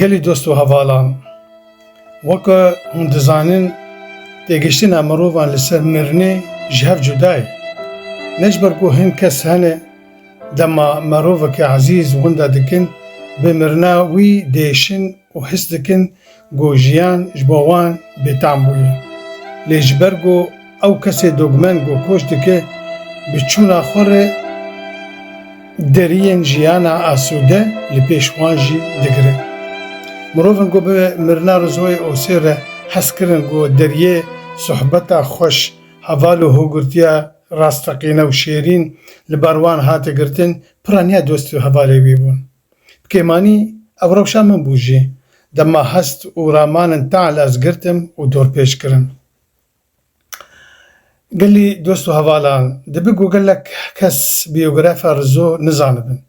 Gelê dost û hevalan, weke hûn dizanin têgihiştina mirovan li ser mirinê ji hev cuda ye. Ne ji ber ku hin kes hene dema mirovekî ezîz winda dikin bi mirina wî diêşin û his dikin ku jiyan ji bo wan bêtam bûye. Lê ji ber ku Ew kesê dogmeng û koç dike bi çûna xwe re deriyên jiyana asûde li pêş wan jî digire. Mirovên ku bi mirina Rizoyê Osê re hez kirin ku deriyê sohbeta xweş, heval û hogirtiya rasteqîne û şêrîn li bar wan hate girtin, pira niha dost û hevalê wî bûn. Bi kêmanî ev rewşa min bû jî. Dema hest û raman in teal ez girtim û dorpêç kirin. Gelê dost û hevalan, dibe ku gelek kes bîyografa Rizo nizanibin.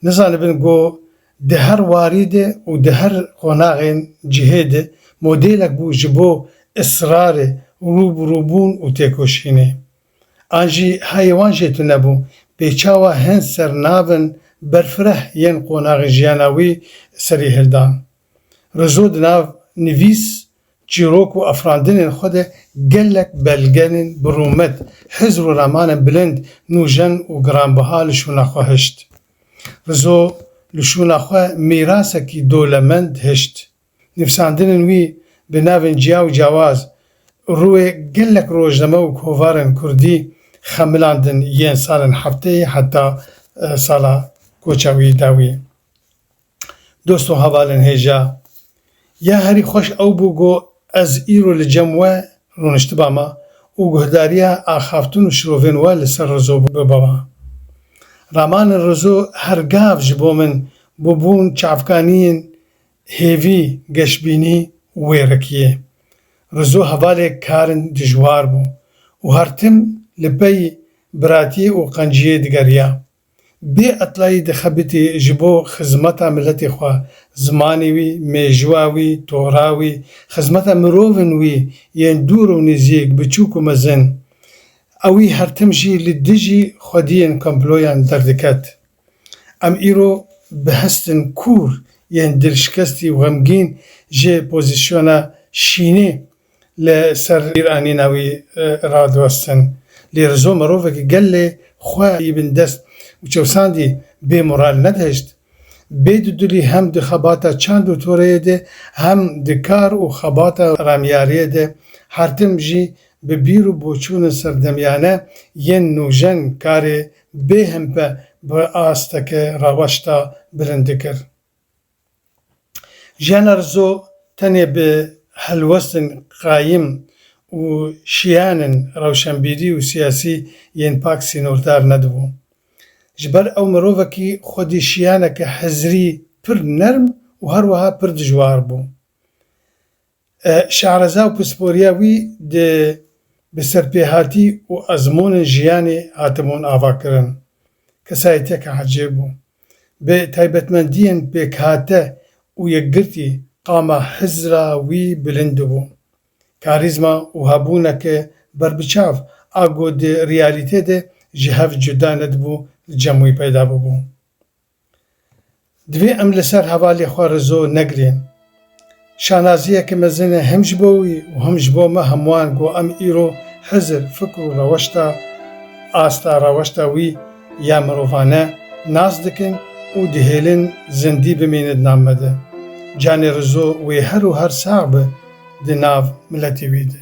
Nizanibin ku di her warî de û di her qonaxên cihê de modêlek bû ji bo israrê, rûbirûbûn û têkoşînê. An jî heyê wan jê tune bû, pêçawa hin ser navên berfireh yên qonaxê jiyana wî serî hildan. Rizo di nav nivîs çîrok û afirandinên xwe de gelek belgenên bi rûmet, hizr û ramanên bilind, nûjen û giranbiha li şûna xwe hişt. Rizo li şûna xwe mîrasekî dolemend hişt. Nivîsandinên wî bi navên ciya û ciyawaz, rûyê gelek rojname û kovarên kurdî xemilandin yên salên hefteyê heta sala koça wî dawî. Dost û hevalên hêja, ya herî xweş ew bû ku ez îro li cem we rûniştiba me û guhdariya axaftûn û şirovên we li ser Rizo bibe me. Ramanên Rizo her gav ji bo min bûbûn çavkaniyên hêvî geşbînî û wêrekiyê. Rizo hevalê karin dijwar bû û her tim li pey biratiyê û qenciyê digeriya. Bê etlayî dixebitî ji bo xizmeta miletê xwe, zimanê wî, mêjûa wî, tora wî, xizmeta mirovên wî yên dûr û nêzîk, biçûk û mezin. Ew wî her tim jî li dijî xwediyên komployan derdiket. Em îro bi hestin kûr yên dilşikestî û xemgîn jê pozîsyona şînê li ser bîranîna wî radiwestin. Lê rizo mirovekî gelê xwe yî bin dest û çewsandî bê moral nedihişt. Bê dudilî hem di xebata çand û toreyê de hem di kar û xebata ramyariyê de her tim jî bi bîr û boçûnên serdemiyane yên nûjen karê bê himpe bi asteke raweşta bilind dikir. Jiyana Rizo tenê bi helwestên qayim û şiyanên rewşenbîrî û siyasî yên pak sînordar nedibû. Ji ber ew mirovekî xwedî şiyaneke hizirî pir nerm û herweha pir dijwar bû. Şehreza û pisporiya wî di bi serpêhatî û ezmûnên jiyanê hatibûn avakirin. Kesayetiyeke ecêb bû. Bi taybetmendiyên pêkhate û yekgirtî qama hizra wî bilind bû. Karîzma û hebûneke berbiçav a ku di reyalîtê de ji hev cuda nedibû li cem wî peyda bûbû. Divê em li ser hevalê xwe rizo negirên. Şanaziyeke mezin e hem ji bo wî û hem ji bo me hemûan ku em îro hizir fikr û reweşta asta reweşta wî ya mirovane nas dikin û dihêlin zindî bimîne di nav me de. Canê rizo wê her û her sax be di nav miletê wî de.